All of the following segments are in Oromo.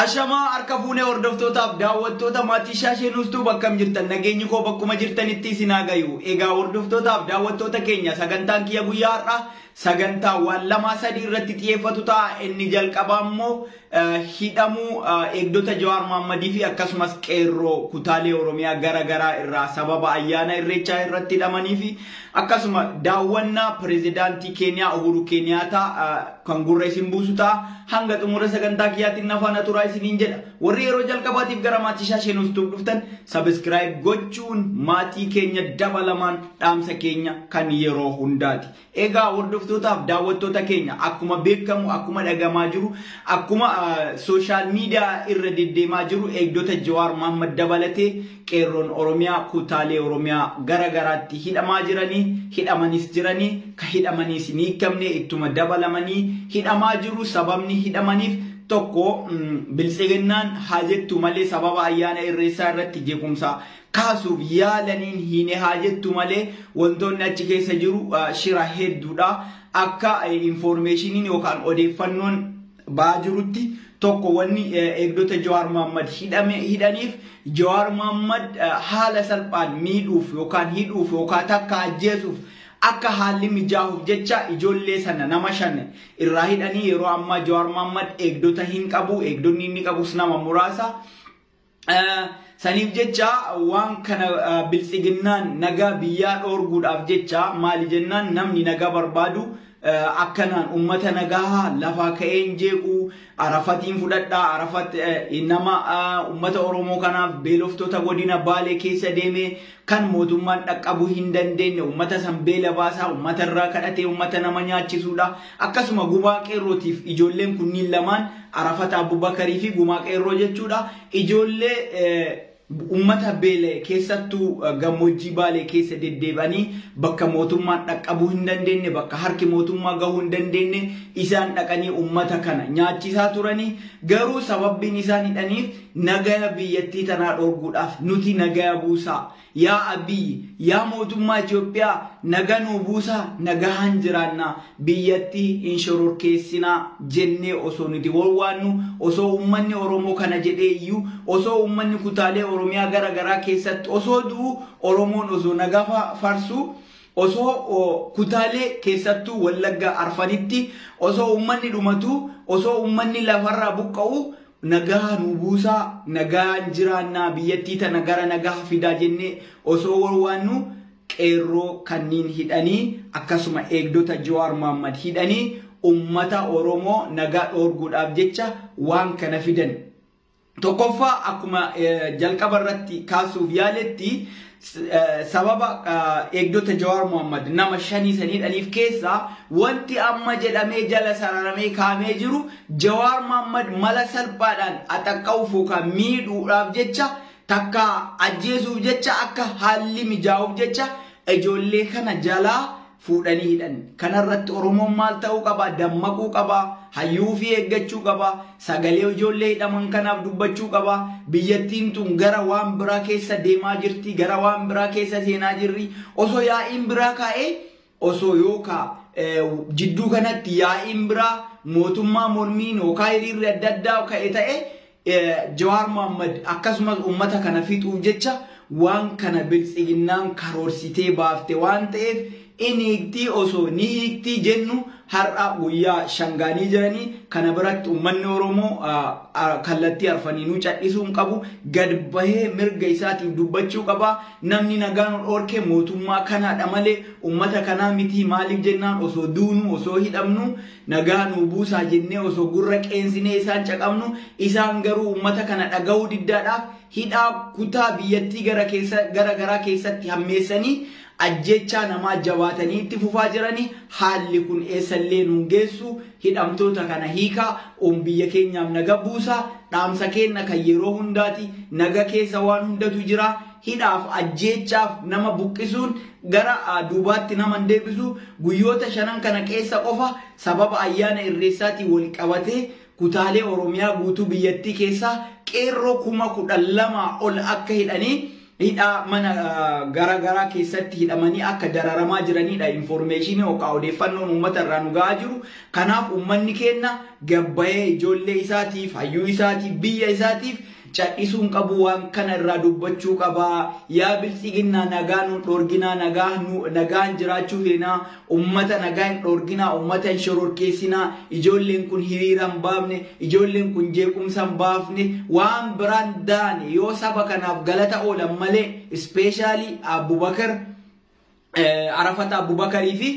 Ashamaa harka fuunee hordoftootaaf daawwattoota maatii shaashee nuustuu bakkam jirtan nageenyi koo bakkuma jirtanitti isin haa gayu. Egaa hordoftootaaf daawwattoota keenya sagantaan kiyya guyyaa har'aa sagantaa waan lamaa sadii irratti xiyyeeffatu ta'a. Inni jalqabaa immoo hidhamuu eegdota Jawaar Maammadii fi akkasumas qeerroo kutaalee Oromiyaa gara garaa irraa sababa ayyaana irreechaa irratti hidhamanii fi Akkasuma daawwannaa Pirezidaantii Keeniyaa Uhuru Keeniyaataa kan gurra isin buusu ta'a. Hanga xumura sagantaa kiyyaatiin na faana turaa isiniin jedha. Warri yeroo jalqabaatiif gara maatii shaashee nuuf tuuf dhuftan sabiskiraayib gochuun maatii keenya dabalamaan dhaamsa keenya kan yeroo hundaati. Egaa hordoftootaaf daawwattoota keenya akkuma beekamu akkuma dhagamaa jiru akkuma sooshaal miidiyaa irra deddeemaa jiru eegdota Jawaar Mahaammad dabalatee Qeerroon Oromiyaa kuutaalee Oromiyaa gara garaatti hidhamaa jiranii, hidhamanis jiranii, ka hidhamaniis hin hiikamne ittuma dabalamanii hidhamaa jiru. Sababni hidhamaniif tokko Biltsiginnaan haa jettu malee sababa Ayyaana Irreessaa irratti jeequmsa kaasuuf yaalaniin hiine haa jettu malee wantoonni achi keessa jiru shira hedduudha. Akka infoormeeshiniin yookaan odeeffannoon ba'aa jirutti tokko wanni eegdota Jawaar Mohammad hidhame hidhaniif Jawaar Mohammad haala salphaan miidhuuf yookaan hidhuuf yookaan takka ajjeesuuf akka haalli mijaahuuf jecha ijoollee sana nama shan irraa hidhanii yeroo ammaa Jawaar Mohammad eegdota hin qabu eegdonni inni qabus nama muraasa Saniif jecha waan kana biltsiginnaan nagaa biyyaa dhoorguudhaaf jecha maali jennaan namni nagaa barbaadu akkanaan ummata nagaa lafaa ka'een jeequu arafatiin fudhadhaa arafat nama ummata oromoo kanaaf beeloftoota godina baalee keessa deemee kan mootummaan dhaqqabuu hin dandeenye, uummata san beela baasaa, uummata irraa kadhatee uummata nama nyaachisuudha. Akkasuma gumaa qeerrootiif ijoolleen kunniin lamaan Arafat Abubakarii fi gumaa qeerroo jechuudha. Ijoollee uummata beela'e keessattuu gammoojjii baalee keessa deddeebi'anii bakka mootummaan dhaqqabuu hin dandeenye, bakka harki mootummaa gahuu hin dandeenye isaan dhaqanii uummata kana nyaachisaa turanii garuu sababbiin isaan hidhaniif Nagaya biyyattii tanaa dhoorguudhaaf nuti nagaya buusaa. Yaa Abiy, yaa mootummaa Itoophiyaa naga nuu buusaa nagahaan jiraannaa, biyyattii hin shororkeessinaa jennee osoo nuti wawwaannu, osoo uummanni Oromoo kana jedhee iyyu, osoo uummanni kutaalee Oromiyaa gara garaa keessatti osoo du'u, Oromoon osoo naga farsu, osoo kutaalee keessattuu Wallagga Arfanitti osoo uummanni dhumatu, osoo uummanni lafarraa buqqa'u, Nagaha nuu buusaa, nagahaan jiraannaa, biyyattii tana gara nagaha fidaa jennee osoo wawwaannu qeerroo kanniin hidhanii akkasuma eegdota Jawaar Mohammed hidhanii ummata Oromoo nagaa dhoorguudhaaf jecha waan kana fidan. Tokkoffaa akkuma jalqaba irratti kaasuuf yaaletti sababa eegdota Jawaar Mohammad nama shanii saniidhaniif keessaa wanti amma jedhamee jala sararamee kaamee jiru Jawaar Mohammad mala salphaadhaan axaqqa'uuf yookaan miidhuudhaaf jecha takka ajjeesuuf jecha akka haalli mijaa'uuf jecha ijoollee kana jalaa fuudhanii hidhan. Kana irratti Oromoon maal ta'uu qaba? Dammaquu qaba. Hayyuu ofii eeggachuu qaba. Sagalee ijoollee hidhaman kanaaf dubbachuu qaba. Biyyattiin tun gara waan biraa keessa deemaa jirti. Gara waan biraa keessa seenaa jirri. Osoo yaa'iin biraa kaa'ee osoo yookaa jidduu kanatti yaa'iin biraa mootummaa mormiin yookaa hiriirri adda addaa ka'e ta'e Jawaar Mohammad akkasumas ummata kana fixuuf jecha waan kana biltsiginnaan karoorsitee baafte waan ta'eef in hiiktii osoo ni hiiktii jennu har'a guyyaa shan gaanii jiranii kana biratti ummanni Oromoo kallattii arfaniinuu cadhisuu hin qabu gad bahee mirga isaatiif dubbachuu qaba namni nagaa nu dhoorke mootummaa kanaadha malee ummata kanaa mitii maaliif jennaan osoo duunuu osoo hidhamnu Nagaa nuu buusaa jennee osoo gurra qeensinee isaan caqafnu isaan garuu uummata kana dhagahuu diddaadhaaf hidhaa kutaa biyyattii gara keessa gara garaa keessatti hammeessanii ajjeechaa namaa jabaatanii itti fufaa jirani haalli kun eessallee nuun geessu hidhamtoota kana hiikaa uum biyya keenyaaf naga buusaa dhaamsa keenna kan yeroo hundaati naga keessa waan hundatu jira hidhaaf, ajjeechaaf, nama buqqisuun gara duubaatti nama hin deebisu. Guyyoota shanan kana keessa qofa sababa ayyaana Irreessaatiin wal qabatee kutaalee Oromiyaa guutuu biyyattii keessaa qeerroo kuma 12 ol akka hidhanii hidhaa mana gara garaa keessatti hidhamanii akka dararamaa jiraniidha infoormeeshinii yookaan odeeffannoon uummata irraa nu ga'aa jiru. Kanaaf uummanni keenya gabbayee ijoollee isaatiif, hayyuu isaatiif, biyya isaatiif Cadhisuu hin qabuu waan kana irraa dubbachuu qabaa yaa biltsiginnaa nagaa nuun dhoorginaa nagaa nu nagaan jiraachuu feenaa ummata nagaa hin dhoorginaa ummata hin shororkeessinaa ijoolleen kun hiriira hin baafne ijoolleen kun jeequmsa hin baafne waan biraan daane yoo saba kanaaf galata oolan malee ispeeshaalii Abubakar Arafat Abubakarii fi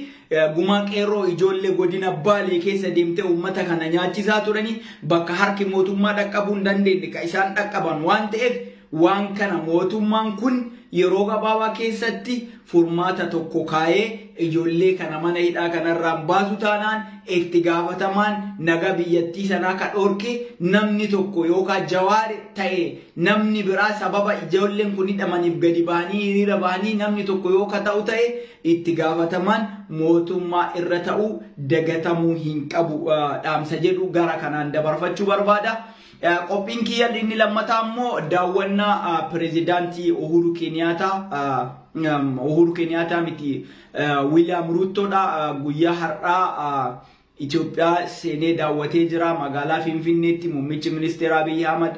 gumaa qeerroo ijoollee godina Baalee keessa deemtee uummata kana nyaachisaa turanii bakka harki mootummaa dhaqqabuu hin dandeenye kan isaan dhaqqaban waan ta'eef waan kana mootummaan kun yeroo gabaabaa keessatti furmaata tokko kaayee ijoollee kana mana hidhaa kanarraan baasu taanaan itti gaafatamaan naga biyyattii sanaa ka dhorke namni tokko yookaan jawaar ta'e Namni biraa sababa ijoolleen kun hidhamaniif gadi bahanii hiriira bahanii namni tokko yoo ka ta'u ta'e itti gaafatamaan mootummaa irra ta'uu dagatamuu hin qabu dhaamsa jedhu gara kanaan dabarfachuu barbaada. Qophiin kiyya inni lammataa immoo daawwannaa pirezidaantii Uhuru Keniyaataa Uhuru Keniyaataa miti Wiiliyaam Ruuttoodha guyyaa har'aa Itoophiyaa seenee daawwatee jira. Magaalaa Finfinneetti muummichi ministeeraa Abiy Ahmad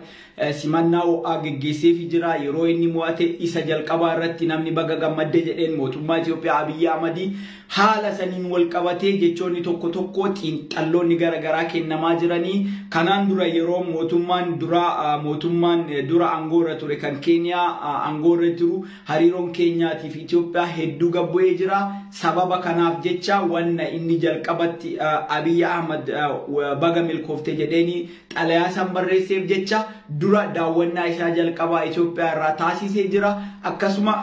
simannaa ho'aa geggeesseefi jira. Yeroo inni mo'ate isa jalqabaa irratti namni baga gammadde jedheen mootummaa Itoophiyaa Abiy Ahmadi. Haala saniin walqabatee jechoonni tokko tokko xiinxalloonni gara garaa kennamaa jirani. Kanaan dura yeroo mootummaan duraa mootummaan dura aangoo irra ture kan Keeniyaa aangoo irra jiru Hariiroon Keenyaatii fi Itiyoophiyaa hedduu gad bu'ee jira. Sababa kanaaf jecha wanna inni jalqabatti Abiy Ahmad baga milkoofte jedheeni xalayaa san barreesseef jecha dura daawwannaa isaa jalqabaa Itiyoophiyaa irraa taasisee jira. Akkasuma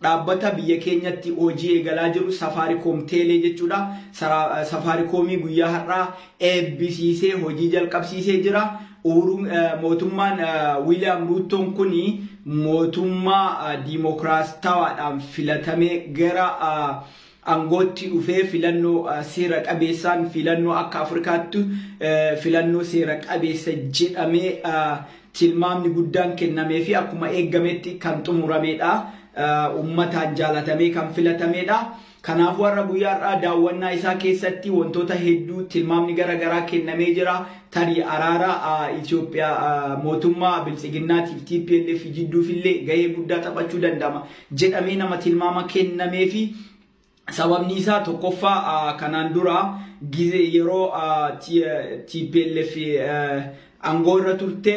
dhaabbata biyya keenyatti hojii eegalaa jiru Safaariikoom Teelee jechuudha. Safaariikoomii guyyaa har'aa eebbisiisee hojii jalqabsiisee jira. Uhuruun mootummaan Wiiliyaam Ruuttoon kun mootummaa diimokiraastawaadhaan filatamee gara aangootti dhufee filannoo seera qabeessaan filannoo akka Afrikaatti filannoo seera qabeessa jedhamee tilmaamni guddaan kennamee fi akkuma eegametti kan xumurameedha. Uummataan jaalatamee kan filatameedha. Kanaafuu har'a guyyaa har'aa daawwannaa isaa keessatti wantoota hedduu tilmaamni gara garaa kennamee jira. Tarii araara Itoophiyaa mootummaa biltsiginnaatiif TPLF jidduufillee gahee guddaa taphachuu danda'ama jedhamee nama tilmaama kennameefi sababni isaa tokkoffaa kanaan dura gizee yeroo TPLF aangoo irra turte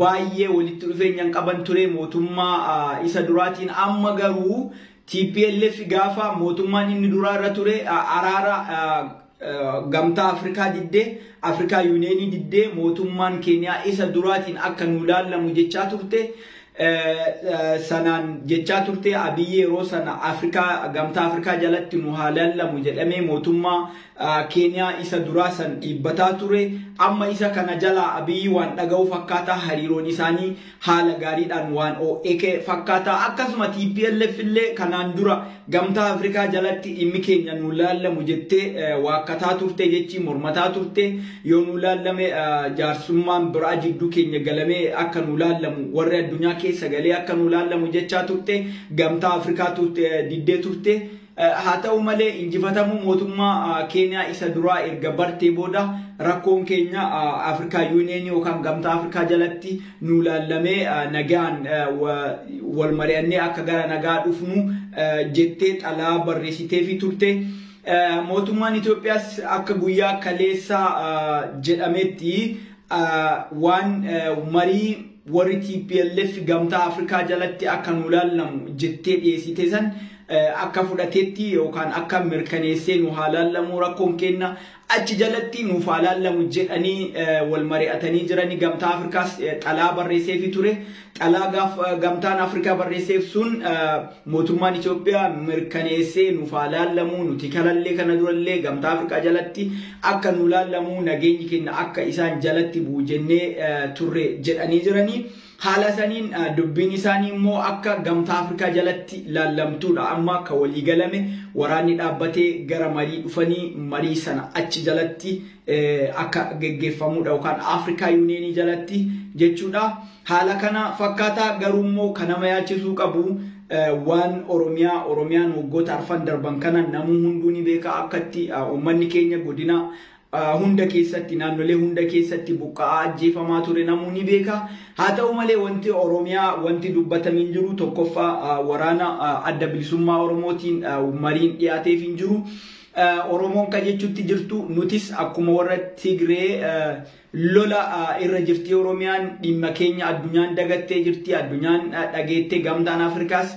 baay'ee walitti dhufeenya hin qaban ture mootummaa isa duraatiin amma garuu Tplf gaafa mootummaan inni duraa irra ture araara gamtaa Afrikaa diddee, Afrikaa Yuuniyeenii diddee mootummaan Keeniyaa isa duraatiin akka nuu laallamu jechaa turte. Sanaan jechaa turte Abiyyi yeroo sana Afrikaa gamtaa Afrikaa jalatti nu haa laallamu jedhamee mootummaa Keeniyaa isa duraa san dhiibbataa ture. Amma isa kana jalaa Abiyyi waan dhaga'u fakkaata. Hariiroon isaanii haala gaariidhaan waan oo'eke fakkaata. Akkasuma tplf illee kanaan dura gamtaa Afrikaa jalatti dhimmi keenya nuu laallamu jettee waakkataa turte jechi mormataa turte. Yoo nuu laallame jaarsummaan biraa jidduu keenya galamee akka nuu laallamu warri addunyaa keessa galee akka nuu laallamu jechaa turte. Gamtaa Afrikaatu diddee turte. Haa ta'u malee injifatamuu mootummaa Keeniyaa isa duraa erga bartee booda rakkoon keenya Afrikaa Yuuniyeenii yookaan Gamtaa Afrikaa jalatti nuu laallamee nagaan wal mari'annee akka gara nagaa dhufnu jettee xalaa barreessiteefii turte. Mootummaan Itoophiyaas akka guyyaa kaleessaa jedhametti waan marii Warri tplf gamtaa Afrikaa jalatti akka nuu laallamu jettee dhiyeessite san akka fudhateetti yookaan akka mirkaneessee nu haa laallamuu rakkoon keenna achi jalatti nuuf haa laallamu jedhanii wal mari'atanii jiranii gamtaa Afrikaas xalaa barreesseefi ture. Xalaa gaaf gamtaan Afrikaa barreesseef sun Mootummaan Itoophiyaa mirkaneessee nuuf haa laallamuu nuti kanallee kana durallee gamtaa Afrikaa jalatti akka nuu laallamuu nageenyi keenna akka isaan jalatti bu'u jennee turre jedhanii jiranii. Haala saniin dubbiin isaanii immoo akka gamtaa Afrikaa jalatti laallamtuudha amma ka walii galame waraanni dhaabbatee gara marii dhufanii marii sana achi jalatti akka geggeeffamuudha yookaan Afrikaa Yuuniyeenii jalatti jechuudha. Haala kana fakkaata garuu immoo kan nama yaachisuu qabu waan Oromiyaa Oromiyaan waggoota arfan darban kana namuu hunduu ni beeka akkatti uummanni keenya godina hunda keessatti naannolee hunda keessatti buqqa'aa ajjeefamaa ture namuu ni beeka. Haa ta'u malee wanti Oromiyaa wanti dubbatame hin jiru tokkoffaa waraana adda bilisummaa Oromootiin mariin dhiyaateef hin jiru. Oromoon ka jechutti jirtu nutis akkuma warra Tigree lola irra jirti Oromiyaan dhimma keenya addunyaan dagattee jirti addunyaan dhageettee gamtaan Afrikaas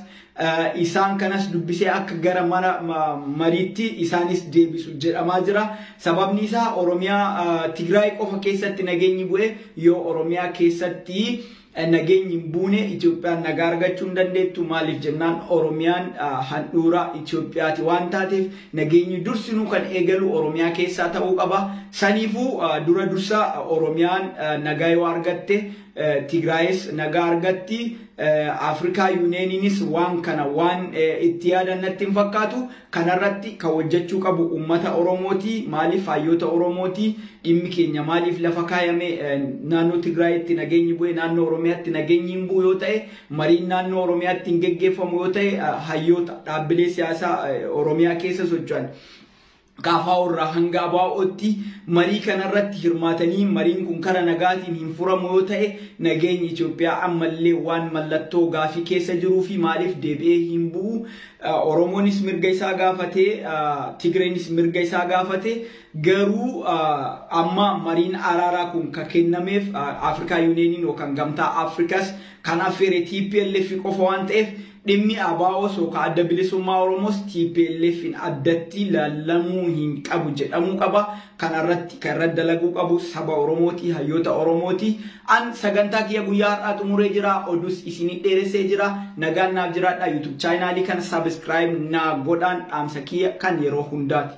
isaan kanas dubbisee akka gara mana mariitti isaanis deebisu jedhamaa jira. Sababni isaa Oromiyaa Tigraay qofa keessatti nageenyi bu'e yoo Oromiyaa keessatti Nageenyi hin buune, Itoophiyaan nagaa argachuu hin dandeettu. Maaliif jennaan Oromiyaan handhuura Itoophiyaati waan taateef nageenyi dursinuu kan eegalu Oromiyaa keessaa ta'uu qaba. Saniifuu dura dursa Oromiyaan nagaa yoo argatte Tigraayis nagaa argatti. Afrikaa Yuuniyeeniinis waan kana waan itti yaadan natti hin fakkaatu. Kanarratti kan hojjachuu qabu ummata Oromooti. Maaliif haayyoota Oromooti. Dhimmi keenya maaliif lafa kaayame? Naannoo Tigraayitti nageenyi bu'e naannoo Oromiyaatti nageenyi hin bu'u yoo ta'e, mariin naannoo Oromiyaatti hin geggeeffamu yoo ta'e, hayyoota, dhaabbilee siyaasaa Oromiyaa keessa socho'an KFO irraa hanga ABOtti marii kanarratti hirmaatanii mariin kun kara nagaatiin hin furamu yoo ta'e, nageenyi Itoophiyaa ammallee waan mallattoo gaafii keessa jiruufi maaliif deebi'ee hin bu'u? Oromoonis mirga isaa gaafate, Tigreenis mirga isaa gaafate. Garuu amma mariin araaraa kun kan kennameef Afrikaa Yuuniyeeniin yookaan gamtaa Afrikaas kan affeere TPLF qofa waan ta'eef dhimmi ABOs yookaan adda bilisummaa Oromoos TPLFin addatti laallamuu hin qabu jedhamuu qaba. Kanarratti kan irratti dalaguu qabu saba Oromooti, hayyoota Oromooti. An sagantaa kiyya guyyaa har'aa xumuree jira oduus isiinii dheeressee jira nagaan naaf jiraadhaa YouTube chaayinaalii kana subscribe naa godhaan dhaamsa kiyya kan yeroo hundaati.